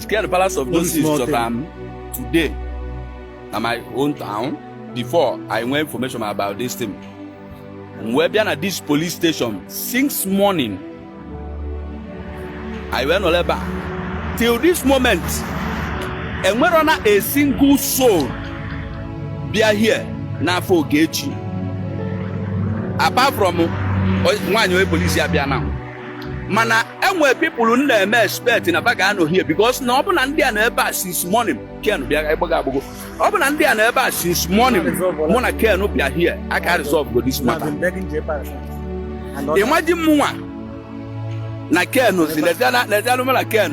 Scared the Palace of Justice chọtara m today na my own town before anyị nwee information about this thing. M wee bịa na this police station since morning. Anyị wee nọrọ ebe a till this moment enwero na a single soul bịa here now for Ogechi apart from nwaanyị onye police a bịa now. mana enwere people m na-eme expect na ba ga-anọ here because na ọ bụ na ndị a nọ ebe a since morning ken bịa ịgbago agbago ọ bụ na ndị a nọ ebe a since morning mụ na ken bịa here a ka resolve go this matter imagine mụnwa na ken si lezianụ m na ken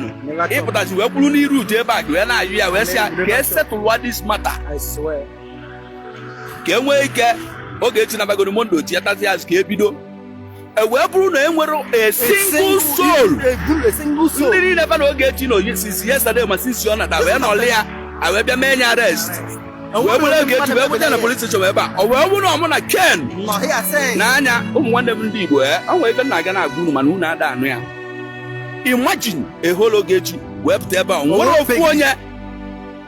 ịpụtazi wee kwụrụ n'iru Jpac wee na-ayọ ya wee sị ya ka e settle this matter ka e nwee ike Ogechi na bagoro mondo tiatazi azụ ka ebido e wee bụrụ na enwero a single soul ndị niile fa na Ogechi nọ since yesterday ma since ọ nata wee nọlị ya a wee bịa mee ya arrest wee buru Ogechi wee buja na police station ebe a ọ wee bụrụ na ọ mụ na ken n'anya ụmụ nwanne m ndị igbo ee o nwere ife na-aga na-agwa unu mana unu ada anụ ya imagine a whole Ogechi wee pụta ebe a enwero ofu onye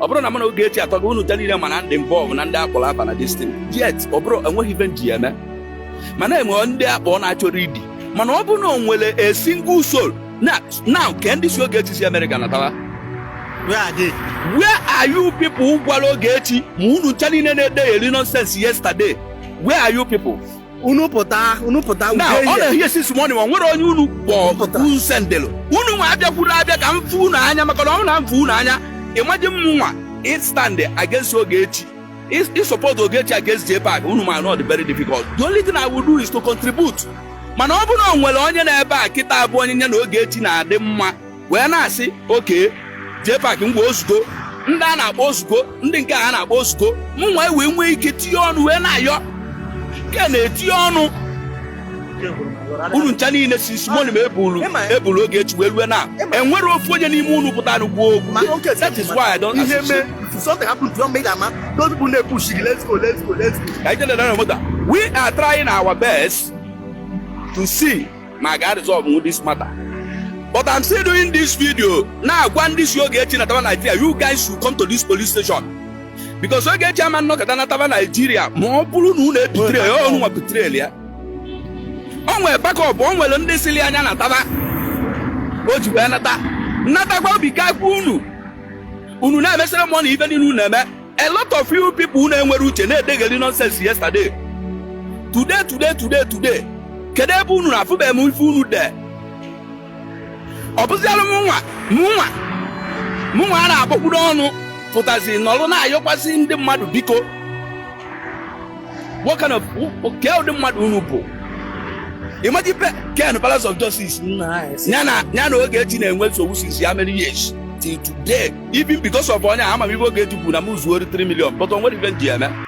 ọ bụrọ na mụ na Ogechi atọ gị unu ncha niile mana ndị involve na ndị akpọrọ aba na this thing yet ọ bụrọ enwe ife m ji eme mana enwe ndị akpọ na-achọ already mana ọ bụ na o nwere a single soul nọ now kee ndị sị Ogechi si Amerịka natawa Where are they? where are you people who gwara Ogechi ma unu ncha niile na-edegheri nonsense yesterday where are you people unu pụta unu pụta now ude na here since morning ma enwero onye unu kpọpụta unu sendelo unu nwa abịakwuru abịa ka m fụ unu anya maka na ọ na m fụ unu anya imagine mụnwa ịstand against Ogechi ị- ịsupport Ogechi against Jpac unu ma na ọ dị very difficult the only thing I will do is to contribute mana ọ bụrụ na o nwere onye na-ebe a kịta abụ onye ya na Ogechi na-adị mma wee na-asị okay Jpac ngwa ozugbo ndị a na-akpọ ozugbo ndị nke a na-akpọ ozugbo mụnwa wee nwee ike tinye ọnụ wee na-ayọ Ken etinye ọnụ unu ncha niile since morning e bulu Ogechi wee rue now enwero ofu onye n'ime unu pụtara igbo okwu that is why i don't associate something happened to make ama those people dey push you let's go let's go let's go. ka e je na moto we are trying our best to see ma a ga resolve this matter but i'm still doing this video na-agwa ndị sị Ogechi nataba Nigeria you guys should come to this police station because Ogechi ama nọkata nataba Nigeria ma ọ bụrụ na unu ebetray ya unu nwa betraylụ ya o nwere backup o nwere ndị sịlị ya nya nataba o ji wee nata natakwa obi ka unu unu na-emesịrị mọ na ife niile unu na-eme A lot of you people na-enwerọ uche na-edegheli nonsense yesterday today today today today kedu ebe unu nọ afụbeghị m ife unu dee ọ bụzialụ mụnwa mụnwa mụnwa a na-akpọkpuru ọnụ pụtazi nọlụ na-ayọkwasị ndị mmadụ biko what kind of ke ụdị mmadụ unu bụ imagine pe ken palace of justice ya na ya na Ogechi na-enwe nsogbu since how many years till today even because of onye a ama m ife Ogechi kwuru na m zuo 3 million but o nwere ife m ji eme